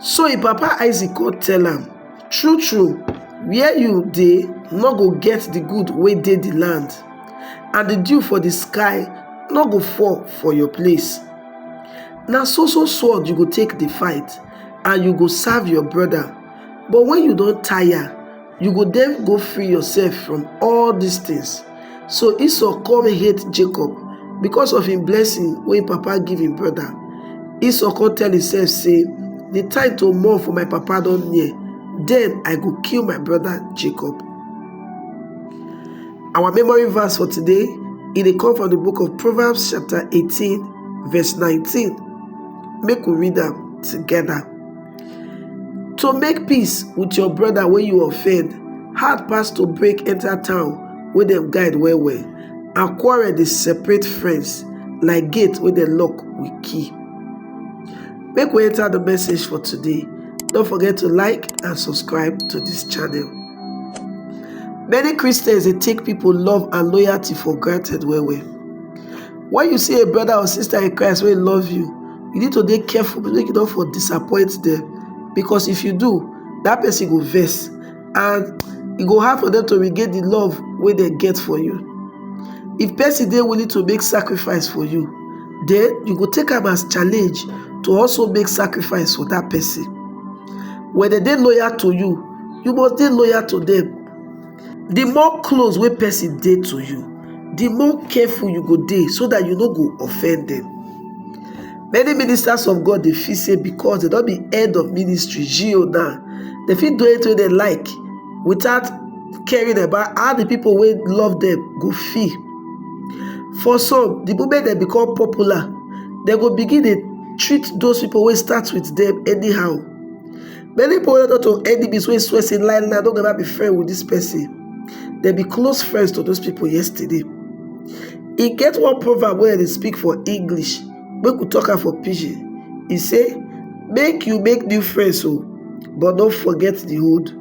So e papa Isaac come tell am, True-true, where you dey no go get the good wey dey the land, and the dew for the sky no go fall for your place. Na so so sword you go take dey fight, and you go serve your brother. But when you don tire, You go then go free yourself from all these things. So Esau come hate Jacob because of him blessing when papa give him brother. Esau come tell himself say, the time to mourn for my papa don near, then I go kill my brother Jacob. Our memory verse for today, it dey come from the book of Proverbs chapter 18 verse 19. Make we read am together. to make peace with your brother wey you offend hard pass to break enter town wey dem guide well well and quarrel dey separate friends like gate wey dem lock with key make we enter the message for today don't forget to like and subscribe to this channel many christians dey take people love and loyalty for granted well well When you see a brother or sister in Christ wey love you, you need to dey careful make you no for disappoint them because if you do, that person go vex and e go hard for them to regain the love wey dem get for you. If person dey willing to make sacrifice for you, then you go take am as challenge to also make sacrifice for that person. When dem dey loyal to you, you must dey loyal to them. Di more close wey pesin dey to you, di more careful you go dey so dat you no go offend dem. Many ministers of God dey feel say because dem don be head of ministry, GO now, dem fit do anything wey dem like without caring about how di pipo wey love dem go feel. For some, di moment dem become popular, dem go begin dey treat those pipo wey start wit dem anyhow. Many poets not to enemies wey swear say lie lie no go ever be friend with this person. They be close friends to those people yesterday. E get one proverb wey I dey speak for English make we talk am for pidgin. E say make you make new friends o but no forget the old.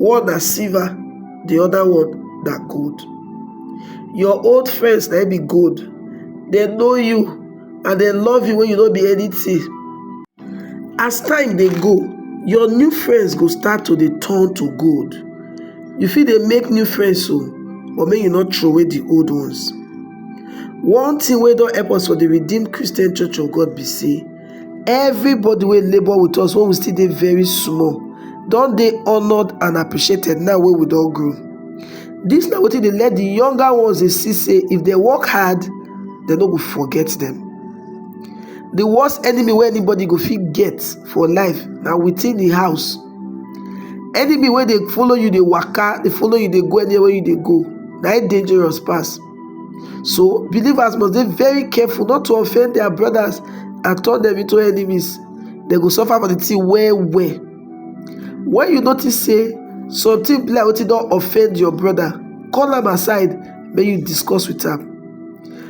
One na silver, the other one na gold. Your old friends na im be gold. They know you and they love you when you no be anything. as time dey go your new friends go start to dey turn to gold you fit dey make new friends o but make you no troway the old ones one thing wey don help us for the redeemed christian church of god be say everybody wey labour with us when we still dey very small don dey honoured and appreciated now wey we don grow this na wetin dey let the younger ones dey see say if dem work hard dem no go forget them The worst enemy wey anybody go fit get for life na within the house. Enemy wey dey follow you dey waka, dey follow you dey go anywhere you dey go, na im dangerous pass. So believers must dey very careful not to offend their brothers and turn them into enemies. They go suffer for the thing well well. When you notice say something be like wetin don offend your brother, call am aside make you discuss with am.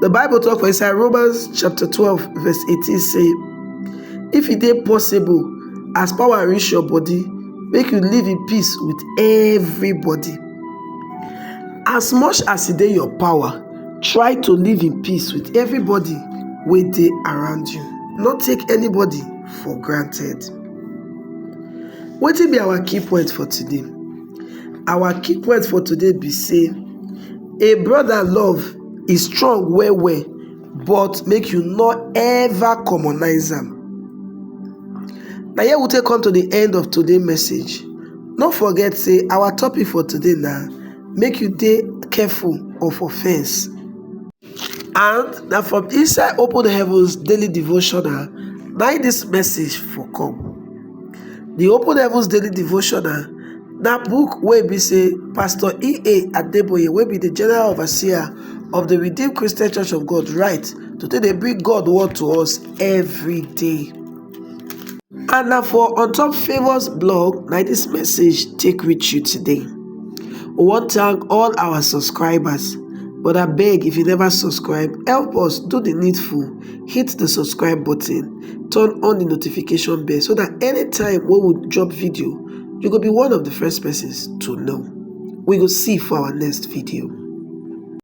The Bible talk for inside Romans chapter 12 verse 18 say, If it is possible, as power reach your body, make you live in peace with everybody. As much as it is your power, try to live in peace with everybody wey dey around you. No take anybody for granted. Wetin be our key point for today? Our key words for today be say a brother love is strong well well but make you no ever commonize am. Na here we take come to the end of today message. No forget say our topic for today na make you dey careful of offense. And na from inside open heavens daily devotional na im this message for come. The open heavens daily devotional na book wey be say Pastor E.A. Adeboye wey be the general overseer of the Redeemed Christian Church of God write to take dey bring God word to us every day. and na for ontop favours blog na dis message take reach you today we wan thank all our subscribers but abeg if you never subscribe help us do the needful hit the subscribe button turn on the notification bell so that anytime wey we drop video you go be one of the first persons to know we go see for our next video